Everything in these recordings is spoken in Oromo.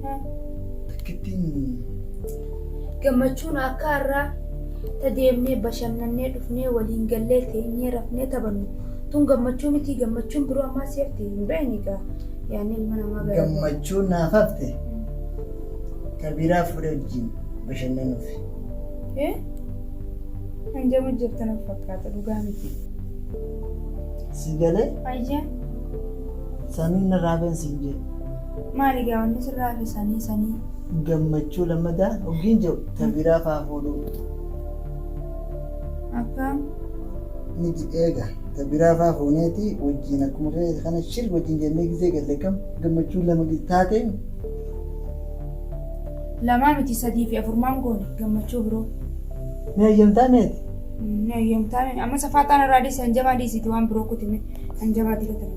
Takkittiin Gammachuun akka har'aa ta deemnee bashannannee dhufnee waliin gallee teenyee rafnee taphannu tun gammachuu miti gammachuun biroo ammaa si hafte hin beekne gaa yaanni ilma namaa gara gammachuun naaf hafte kabiraa fuudhee wajjin bashannanuuf. Eh? Kan jamu jirtu na fakkaata dhugaa miti. Si galee Ayyaan samiin narraa been siin jee. Maali gaa wanni sirraa hafe sanii sanii. Gammachuu lammadaa hoggiin je'u ta biraa faa fuudhuu. Akkaam. Ni didee gaa ta biraa faa fuuneeti wajjiin akkuma keeti kana shir wajjiin jennee gizee galle kam gammachuu lama taateem. Lamaa miti sadii fi afur maan goone gammachuu biroo. Ni hayyamtaa meeti. Ni hayyamtaa mee amma safaaxaan irraa dhiisi hanjamaa dhiisiiti waan biroo kutime hanjamaa dila tana.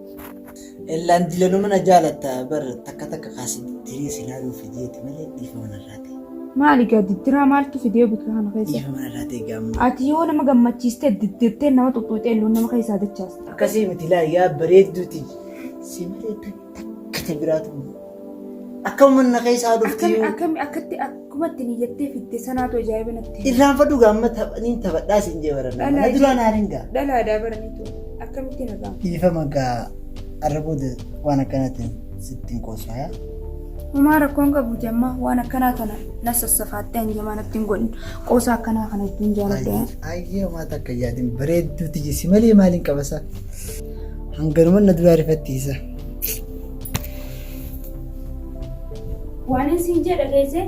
Ellaan dilanuma na jaalatta bar takka takka kaasii diree si laaluu fideeti malee dhiifama narraa ta'e. Maali gaa diddiraa maaltu fidee bika kana keessa? Dhiifama narraa ta'e gaamma. Ati yoo nama gammachiiste diddirtee nama xuxxuuxee illoon nama keessaa dachaasta. Akkasii miti laa yaa bareedduuti. Si malee takka ta biraatu. Akka manna keessaa dhufti. Akkami akkami akkatti akkuma itti niyyattee fitte sanaatu ajaa'iba natti. Irraan fadhu gaamma taphaniin taphadhaa siin jee baranna. Dhalaa Mana duraan jee. haariin gaa. Dhalaadhaa baraniitu akkamitti na gaama. Dhiifama gaa arra booda waan akkanaatiin sitti hin qoosaya. Homaa rakkoon qabu jammaa waan akkanaa kana na sassafaattee hanjamaa natti hin godhin. Qoosa akkanaa kana ittiin jaaladha. Ayyee homaa takka yaadin bareedduu tiyyi si malee maaliin qabasa. Hanganuma na duraa rifattiisa. Waanin siin jee dhageessee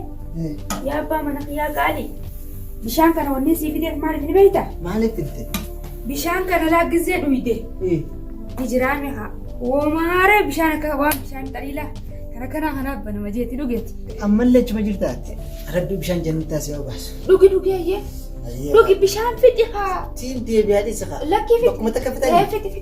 yaa abbaa mana kiyyaa qaalii bishaan kana wanni sii fideef maaliif ni beekta? Maaliif filte? Bishaan kana laaggizee dhuyde. Hijiraame haa. Woomaaree bishaan akka waan bishaan xaliilaa kana kanaa kanaaf banama jeetti dhugeeti. Ammallee achuma jirtaatti rabbi bishaan jannataa si obaasu. Dhugi dhugeeyyee. Dhugi bishaan fixi haa. Siin deebi'aa dhisa haa. Lakkii fixi. Bakkuma takka fixanii. Fixi fixi.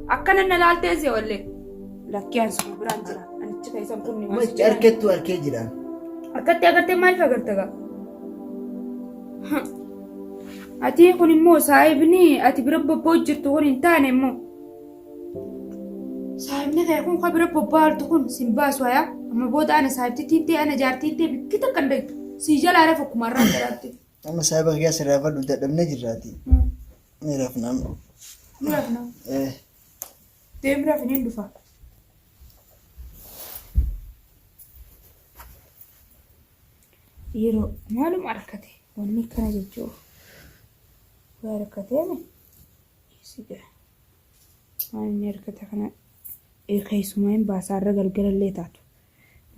Akkana na laaltee si oollee. Lakkii an sun biraan jira. Anichi keessan kun ni Machi maasii. arkettu arkee jiraan. Akkatti agartee maaliif agarta gaa? Ati kun immoo saahibni ati bira bobbaa jirtu kun hin taane immoo. Saahibni kee kun kan bira bobbaa jirtu kun sin baasu hayaa. Amma booda ana saahibtitti hin ta'e ana jaartii hin ta'e bikki takka hin dhagdu. Sii jalaa lafa kumarraa jalaatti. Amma saayiba kiyyaa sirraa fadhu dadhabnee jirraati. Ni rafnaan. Ni rafnaa. Eh. Deemi rafi niin dhufa. Yeroo maaluma argate wanni kana jechuuf waa argateemi siga waan inni argate kana eh, keessumaa hin baasaa irra galgalallee taatu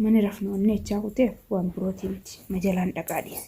mani rafnu wanni echaa kuteef waan birootii miti majalaan dhaqaa dhiise.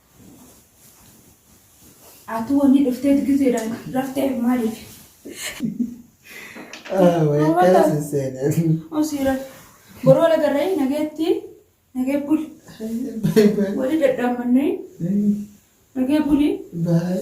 Atu wanni dhuftee gizeedhaan raftee maaliif? Akkana si seenee. Osiira. Boroo lagarree nageetti nagee buli. Wali dadhaamannee nagee buli. Baay.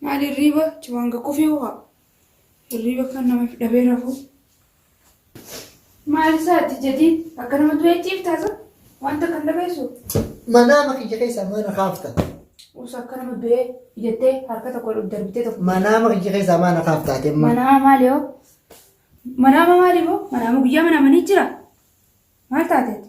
Maali hirriiba chiwaanga kufee ho'a. Hirriiba kan nama if dhabee rafu. Maali isaati jadiid akka nama du'ee ciiftaasa wanta kan dhabeessu. Manaama kiyya keessaa maal na kaafta? Usa akka nama du'ee ijattee harka tokko ol darbitee tokko. Manaama kiyya keessaa maal na kaafta ati amma? Manaama maali hoo? Manaama maali hoo? Manaama guyyaa manaamanii jira. Maal taateeti?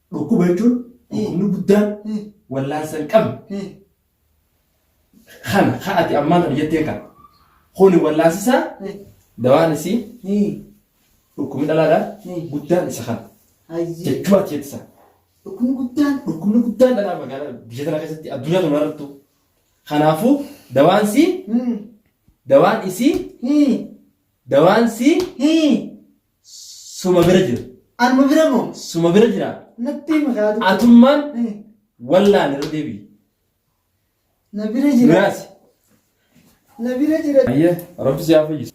Dhukkuba jechuun dhukkubni guddaan wallaansa hin qabne kana kan ati ammaan kana jetteen kana kuni wallaansisaa dawaan isii dhukkubni dhalaadhaa guddaan isa kana Ayyee. jechuu ati jettisa Dhukkubni guddaan. dhukkubni guddaan dhalaa magaalaa biyya tana keessatti addunyaa tana irrattu kanaafuu dawaan isii dawaan isii dawaan isii Suma bira jira. Anuma bira moo? Suma bira jira. Natti hima kaa dubbii. Atummaan Eh, wallaan irra deebi'i. Na bira jira. Miraasi. Na bira jira. Ayyee rabbi si haa fayyisu.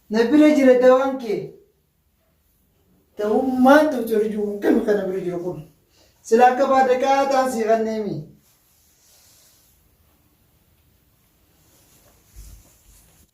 Na bira jira dawaan kee. Dawaan maal ta'u jiru jiru akkami kana bira jiru kun. Sila akka baada kaa ta'an sii kanneemi.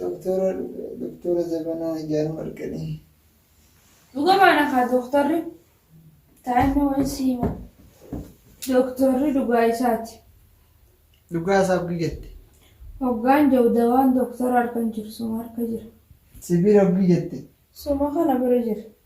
Doktora dhufe doktora jabanaa ijaan marqanii. Dhugumaadha kaa dooktarri taa'imni wayii si hima. Dooktarri dhugaa isaati. Dhugaa isaa abdii jette. Hoggaan jiru dawaan dooktara harka hin jiru suma harka jira. Sibiila abdii jette. Suma kana bira jira.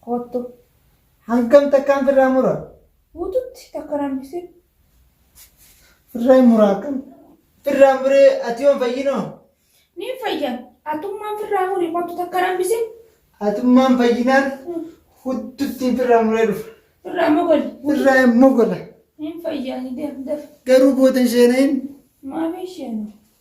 Koottu. Hangam takkaan firraa mura? Guututti takka nambisin. Firraa hin muraa akkam? Firraa muree ati yoon fayyinoo? Niin fayyan. Atummaan firraa muri koottu takka nambisin. Atummaan fayyinaan hudduttiin firraa muree dhufa. Firraa mogoli. Firraa hin mogola. Niin fayyaani deem def. Garuu booda hin sheenayin. Maafii isheenu.